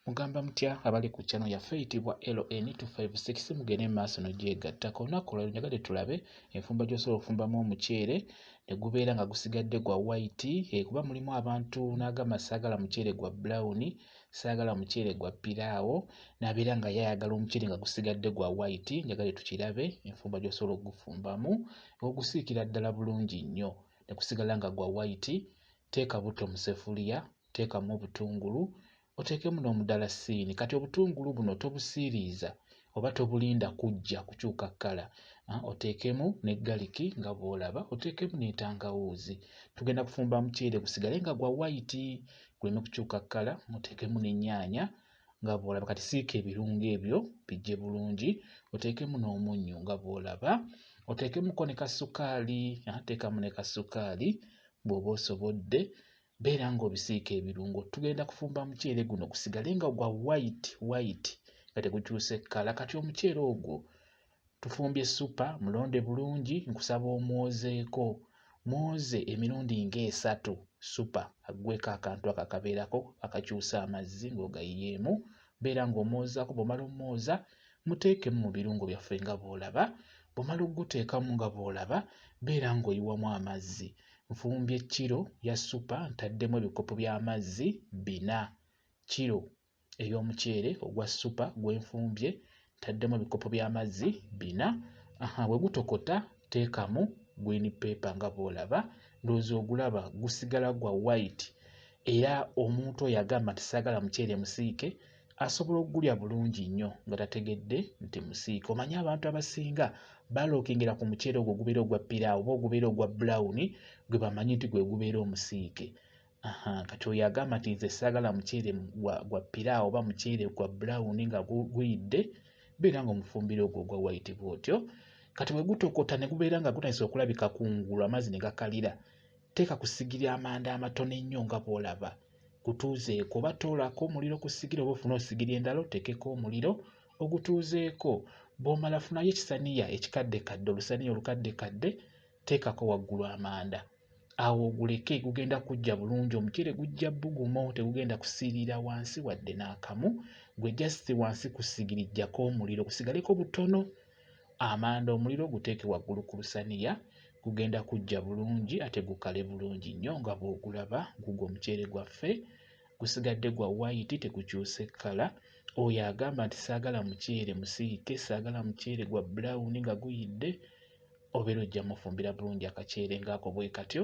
Mugamba mutya abali ku channel yaffe eyitibwa LN256 mugende mu maaso n'ogyegattako olunaku olwaleero njagadde tulabe enfumba gy'osobola okufumbamu omuceere ne gubeera nga gusigadde gwa white eh, kuba mulimu abantu n'agamba saagala muceere gwa brown saagala muceere gwa piraawo n'abeera nga ye ayagala omuceere nga gusigadde gwa white njagadde tukirabe enfumba gy'osobola okugufumbamu ogusiikira ddala bulungi nnyo ne gusigala nga gwa white teeka butto mu sefuliya teekamu obutungulu oteekemu n'omudalasiini kati obutungulu buno tobusiiriiza oba tobulinda kujja kukyuka kkala ah, oteekemu ne galiki nga bw'olaba oteekemu n'entangawuuzi tugenda kufumba muceere gusigale nga gwa wayiti guleme kukyuka kkala oteekemu n'ennyaanya nga bw'olaba kati siika ebirungo ebyo bijje bulungi oteekemu n'omunnyo nga bw'olaba oteekemuko ne kasukaali ah, teekamu ne kasukaali bw'oba osobodde beera ng'obisiika ebirungo tugenda kufumba muceere guno gusigale nga gwa white white nga tegukyuse kkala kati omuceere ogwo tufumbye supa mulonde bulungi nkusaba omwozeeko mwoze emirundi ng'esatu supa aggweko akantu ako akabeerako akakyusa amazzi ng'ogayiyeemu beera ng'omwozaako bw'omala omwoza muteekemu mu birungo byaffe nga bw'olaba bw'omala okuguteekamu nga bw'olaba beera ng'oyiwamu amazzi Nfumbye kkiro ya ssupa ntaddemu ebikopo by'amazzi bina. Kkiro ey'omuceere ogwa ssupa gwe nfumbye ntaddemu ebikopo by'amazzi bina. Aha, bwe gutokota teekamu green paper nga bw'olaba ndowooza ogulaba gusigala gwa white era omuntu oyo agamba nti saagala muceere musiike asobola okugulya bulungi nnyo nga tategedde nti musiika omanyi abantu abasinga balokingira ku muceere ogwo gubeera ogwa piraawo oba ogubeera ogwa bulawuni gwe bamanyi nti gwe gubeera omusiike kati oyo agamba nti nze saagala muceere gwa piraawo oba muceere gwa bulawuni nga guyidde beera nga omufumbiro ogwo ogwa wayiti bwotyo kati bwe gutokota ne gubeera nga gutandisa okulabika kungulu amazzi ne gakalira teeka ku sigiri amanda amatono ennyo nga bw'olaba kutuuzeeko oba toolaako omuliro ku ssigiri oba ofune osigiri endala oteekeko omuliro ogutuuzeeko bw'omala funayo ekisaniya ekikaddekadde olusaniya olukaddekadde teekako waggulu amanda awo oguleke gugenda kujja bulungi omuceere gujja bugumo tegugenda kusiirira wansi wadde n'akamu gwe jasiti wansi ku ssigiri jjako omuliro gusigaleko butono amanda omuliro oguteeke waggulu ku lusaniya gugenda kujja bulungi ate gukale bulungi nnyo nga bw'ogulaba gugwo omuceere gwaffe gusigadde gwa wayiti tekukyuse kkala oyo agamba nti saagala muceere musiike saagala muceere gwa bulawuni nga guyidde obeera ojja mufumbira bulungi akaceere ng'ako bwe katyo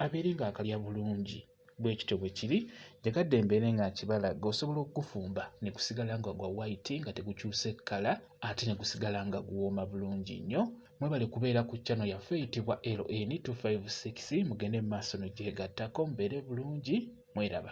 abeere ng'akalya bulungi bwe kityo bwe kiri njagadde mbeere nga nkibalaga osobola okugufumba ne gusigala nga gwa white nga tegukyuse kkala ate ne gusigala nga guwooma bulungi nnyo mwebale kubeera ku chano yaffe eyitibwa ln 256 mugende mu maaso nogyegattako mubeere bulungi mweraba